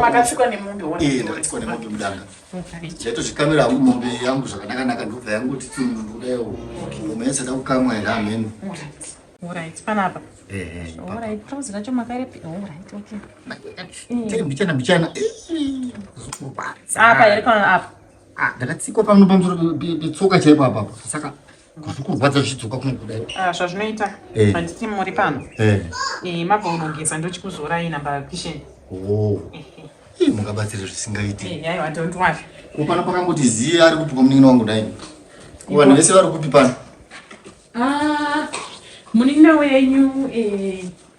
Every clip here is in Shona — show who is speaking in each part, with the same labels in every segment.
Speaker 1: Makatsika
Speaker 2: nemombe mudanga chaitozvikamira hangu mombe yangu zvakanakanaka ndobva yangu titi munhu kudaio mombe yasada kukamwa here hamheno
Speaker 1: mbichana
Speaker 2: mbichana
Speaker 1: apa here pano apa ndakatsikwa pano
Speaker 2: pamusoro petsoka chaipo apapo saka zvikurwadza zvichidzoka kuno kudai ah, zvazvinoita
Speaker 1: eh. handiti muri pano eh. eh, mabva unogeza ndochikuzorai namba kisheni oh.
Speaker 2: mungabatsira zvisingaiti
Speaker 1: ko pano pakangoti
Speaker 2: ziye ari kupi kwamunin'ina wangu dai ko vanhu vese vari kupi pano ah,
Speaker 1: munin'ina wenyu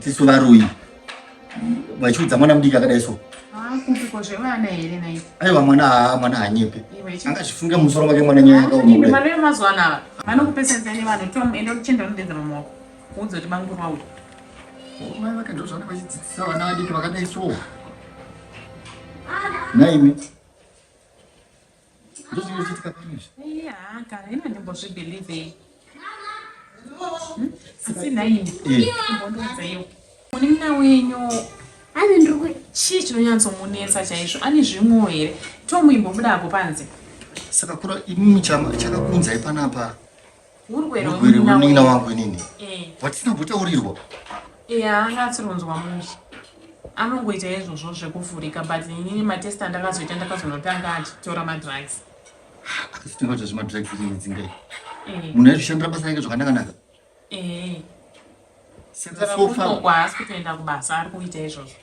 Speaker 2: tisu varoyi vachiudza mwana mudiki akadai so
Speaker 1: aiwa mwana haa
Speaker 2: mwana hanyepe angazvifunge musoro make mwana nyaya
Speaker 1: yakaomakuda
Speaker 2: naimi ndozvinochitika kani izvi iya kana ino
Speaker 1: ndimbozvibelieve hmm? asi nhaini imbondiudza iwo munin'ina wenyu ane ndiri
Speaker 3: chii chinonyatsomunetsa
Speaker 1: chaizvo ane zvimwewo here tomuimbobuda apo panze saka kura
Speaker 2: imimi chakakunzai panapa Urwere
Speaker 1: wemunin'ina wangu
Speaker 2: inini. Eh. Watisina kutaurirwa. Eh, angatsi
Speaker 1: ronzwa mushe. Anongoita izvozvo zvekuvhurika but inini matest andakazoita ndakazonotanga achitora madrugs. Akasinga
Speaker 2: kuti zvemadrugs inini dzingai. Eh. Munhu aizvishandira basa rake zvakanaka naka. Eh. sekutofa haasi kutoenda kubasa
Speaker 1: ari kuita izvozvo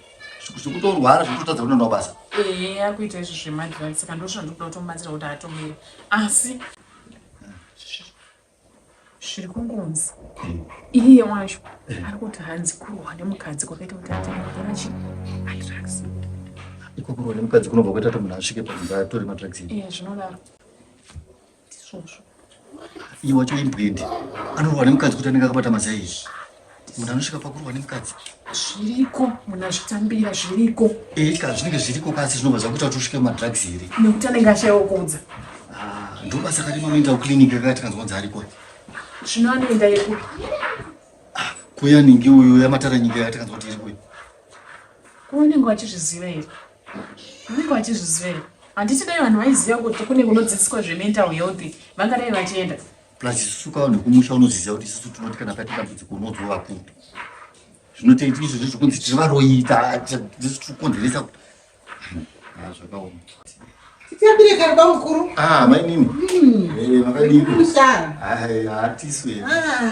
Speaker 1: zvekutorwara
Speaker 2: zvekutotadza kunoenda kubasa ee ari kuita izvo
Speaker 1: zvemadrive saka ndozvo ndikuda kutomubatsira kuti atomire asi zviri kungonzi iye wacho ari kuti hanzi kurohwa nemukadzi kwakaita kuti ateatora chi madrags iko
Speaker 2: kurohwa nemukadzi kunobva kwaita kuti munhu asvike pakuti atore madrags iye zvinodaro
Speaker 1: ndizvozvo
Speaker 2: iye wacho imbwendi anorohwa nemukadzi kuti anenge akabata mazai izvi munhu anosvika pakurohwa nemukadzi zviriko
Speaker 1: munhu azvitambira zviriko ee ka zvinenge zviriko
Speaker 2: kasi zvinobva zvakuita kuti usvike madrugs here nekuti anenge ashaiwa
Speaker 1: kuudza ah, ndobasa
Speaker 2: kati manoenda kuclinic yakati kanzwa kunzi ariko zvino
Speaker 1: anoenda yekuti
Speaker 2: ah, kuya ningi uyo yamatara
Speaker 1: nyika
Speaker 2: yakati kanzwa kuti iri kuya unenge
Speaker 1: wachizviziva here unenge wachizviziva here handiti dai vanhu vaiziva kuti kune kunodzidziswa zvemental health vangadai vachienda plus isusu kawo
Speaker 2: nekumusha unoziziva kuti isusu tinoti kana paita dambudziko unodzwa vakuru zvinotoita izvo zvezvokunzi tiri varoita tisu tiri kukonzeresa kuti ah, zvakaoma
Speaker 4: tiyambire kari bamukuru ah, mainini hmm. eh,
Speaker 2: makadiimusara
Speaker 4: hatisu
Speaker 2: ah,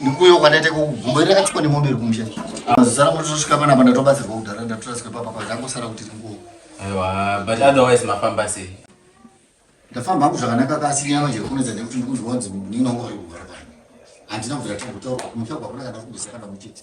Speaker 5: Ndikuyo
Speaker 2: kwataita kugumbo iri rakachikwa nemombe iri kumusha. Mazara kuti tosvika pana pana tobatsirwa kudhara ndatorasika papa papa ndangosara kuti ndinguwo. Aiwa but
Speaker 5: otherwise mafamba sei? Ndafamba
Speaker 2: hangu zvakanaka kasi nyama chero kunedza nekuti ndikunzwa kunzi ndinongori kugara pano. Handina kubvira tangu taura kumutaura kwakuna kana kumbisa kana muchete.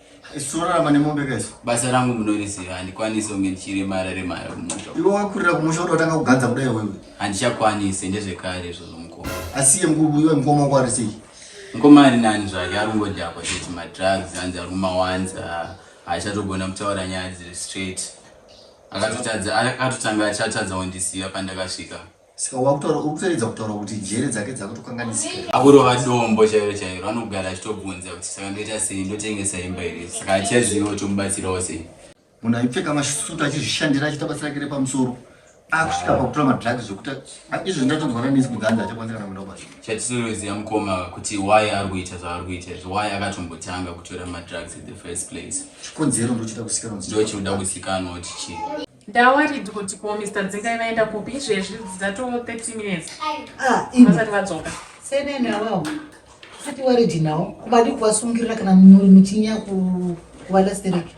Speaker 5: Isu torarama
Speaker 2: nemombe ka isu. Basa rangu munoriziva
Speaker 5: handikwanise kunge ndichiremara remara kumusha. Iwe wakurira kumusha
Speaker 2: kuti watanga kuganza kudai wewe. Handichakwanise
Speaker 5: ndezvekare izvozvo mukoma. Asiye mkuru iwe
Speaker 2: mkoma wako ari sei? Mkoma ari nani
Speaker 5: zvake ari kungodhakwa chete madrugs hanzi ari kumawanza haachatogona kutaura nyaya dziri straight. Akatotadza akatotanga achatadza kundisiya pandakasvika. saka wakutaura
Speaker 2: ukutoedza kutaura kuti njere dzake dzakutokanganisika akurova dombo
Speaker 5: chairo chairo anogara achitobvunza kuti saka ndoita sei ndotengesa imba here saka achiaziva kuti mubatsirawo sei munhu aipfeka
Speaker 2: masutu achizvishandira achiita basa rake repamusoro akusvika pakutora madrugs zvekuti izvo ndatonzwa nanisi kuganza achakwanisa kana kuenda kubasa chatinoziva mukoma
Speaker 5: kuti why ari kuita zvaari kuita izvo why akatombotanga kutora madrugs in the first place chikonzero ndochida
Speaker 2: kusikanwa ndochida kusikanwa
Speaker 5: kuti chii Ndawarid kuti
Speaker 1: ko Mr Dzingai vaenda kupi izvezvi dzidzato 30 minutes ah, vasati vadzoka senene avavo
Speaker 4: sati waridi nawo kubadi kuvasungirira kana muri muchinya kuvalastereki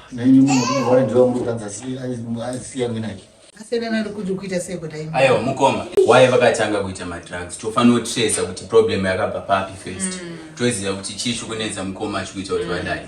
Speaker 2: aiwa
Speaker 4: mukoma waye
Speaker 5: vakatanga kuita madrugs tofanira kutresa kuti problem yakabva papi first mm. toziva kuti chii chikunetsa mukoma achikuita kuti vadai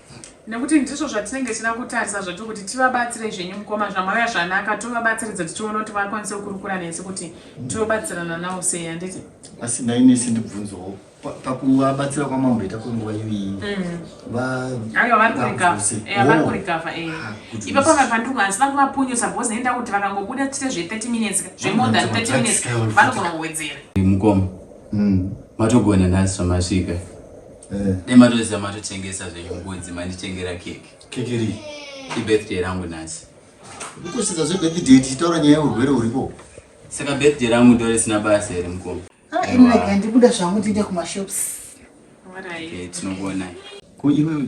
Speaker 5: nekuti ndizvo
Speaker 1: zvatinenge tichida kutarisa zvatiri kuti tivabatsire zvenyu mukoma zvamauya zvanaka tovabatsiridza tichiona kuti vakwanise kukurukura nesu kuti tobatsirana nawo sei handiti asi ndainesi
Speaker 2: ndibvunzowo pakuvabatsira kwamamboita kwenguva iyoiyi aiwa
Speaker 1: vari kurikavha ipa pamwe pandiko asi vange vapunyusa bcause nenda kuti vakangobuda tiite zve 30 minutes zvemore than 30 minutes vanogona kuwedzera mukoma
Speaker 5: matogona nhasi zvamasvika Eh. Dai matoziva matotengesa zvenyu mbudzi manditengera keke. Keke rii?
Speaker 2: Ibirthday rangu
Speaker 5: nhasi. Ukusvitsa
Speaker 2: zvebirthday tichitaura nyaya yeurwere huripo. Saka birthday
Speaker 5: rangu ndore sina basa here mukoma? Ah, ini rega ndibuda
Speaker 4: zvangu tiende kumashops. Tinokuonai.
Speaker 5: Ko iwewe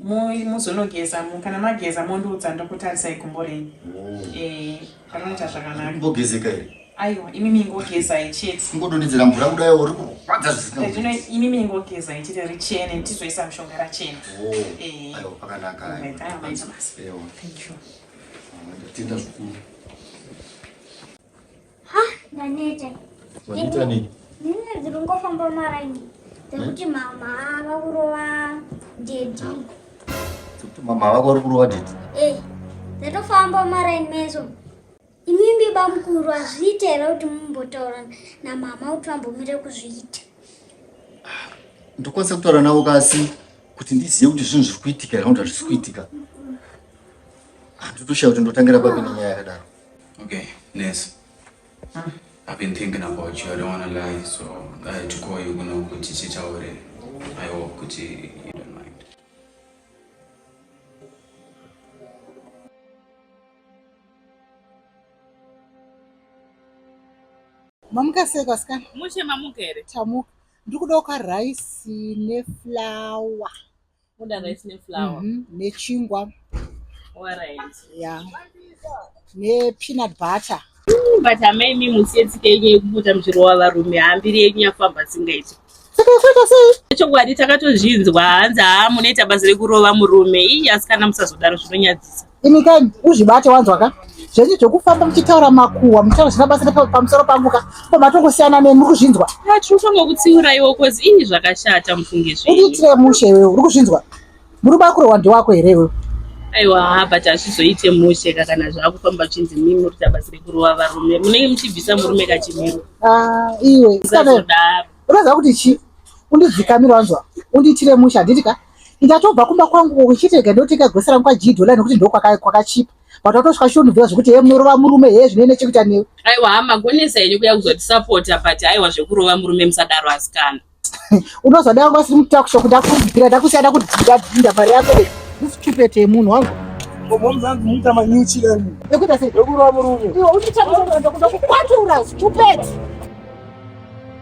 Speaker 1: muzonogeza mu kana mageza mondiudza ndokutarisai gumbo renyu oh. eh, panoita zvakanakaimbogezeka here
Speaker 2: aiwa imi
Speaker 1: mingogezai chete ingodonhedzera mvura kudai
Speaker 2: uri kurwadza zvisina eh, imi mingogezai
Speaker 1: chete richene ndizoisa mushonga rachena oh. eh. aiwa pakanaka
Speaker 2: tenda zvikuru
Speaker 3: Ha, ndaneta.
Speaker 2: Waneta nini? Nini ndiri kungofamba
Speaker 3: maraini. Ndikuti mama vakurova daddy.
Speaker 2: Kuti mama vako vari kurova daddy. Eh. Ndatofamba
Speaker 3: maraini meso. Imimbi bamukuru azviite here kuti mumbotaura namama kuti vambomire kuzviita. Ah,
Speaker 2: ndokwanisa kutaura navo kasi kuti ndizive kuti zvinhu zviri kuitika here kana kuti hazvisi kuitika. Handitoshaya ah, kuti ndotangira papi nenyaya yakadaro. Okay,
Speaker 5: nurse. Huh? I've been thinking about you. I don't want to lie, so I had to call you kuno kuti titaure. I hope kuti you don't mind.
Speaker 4: Mamuka sei kwasikana? Mushe mamuka here?
Speaker 1: Tamuka.
Speaker 4: Ndikuda uka rice neflour.
Speaker 1: Moda rice
Speaker 4: ne flour. Mm -hmm. Ne chingwa. All right. Yeah. Ne peanut butter. Mm, but amai
Speaker 1: imi musiyetsike yenyu yekupota muchirova varume hambiri yenyu yafamba singaiti
Speaker 4: chokwadi takatozvinzwa
Speaker 1: hanzi haa munoita basa rekurova murume iyi asikana musazodaro zvinonyadzisa Imi ka
Speaker 4: uzvibate wanzwa ka zvenyu zvekufamba muchitaura makuwa muchitaura zvisina basa pamusoro pangu ka ko matongosiyana neni muri kuzvinzwa tiri kufanira kutsiura
Speaker 1: iwo kozi ii zvakashata mufunge zvenyu udiitire mushe iwewe uri
Speaker 4: kuzvinzwa murume akurohwa ndewako here iwewe aiwa ha but
Speaker 1: hazvizoite mushe ka kana zvaakufamba chinzi mimi muri kuita basa rekurova varume munenge muchibvisa murume kachimiro ah, iwe
Speaker 4: usazodaro unoziva kuti chii undidzikamira wanzwa undiitire mushe handiti ka Ndichatobva kumba kwangu uchitega ndoteka grocery rangu kwa G dollar nekuti ndiko kwaka kwakachipa. But watosvika shunuvira zvekuti hey munorova murume hey zvine nechekuita newe. Aiwa hama gonesa
Speaker 1: yenyu kuya kuzoti supporta but aiwa zvekurova murume musadaro asikana. Unozodai
Speaker 4: wangu asiri mukuta kusho kuda kubvira ndakusiya da kudhinda dhinda mari yako. This stupid yemunhu wangu. Mom zangu muita manyuchi lani. Nekuita sei? Ndokurova murume. Iwe undichapisa ndokuda kukwatura stupid.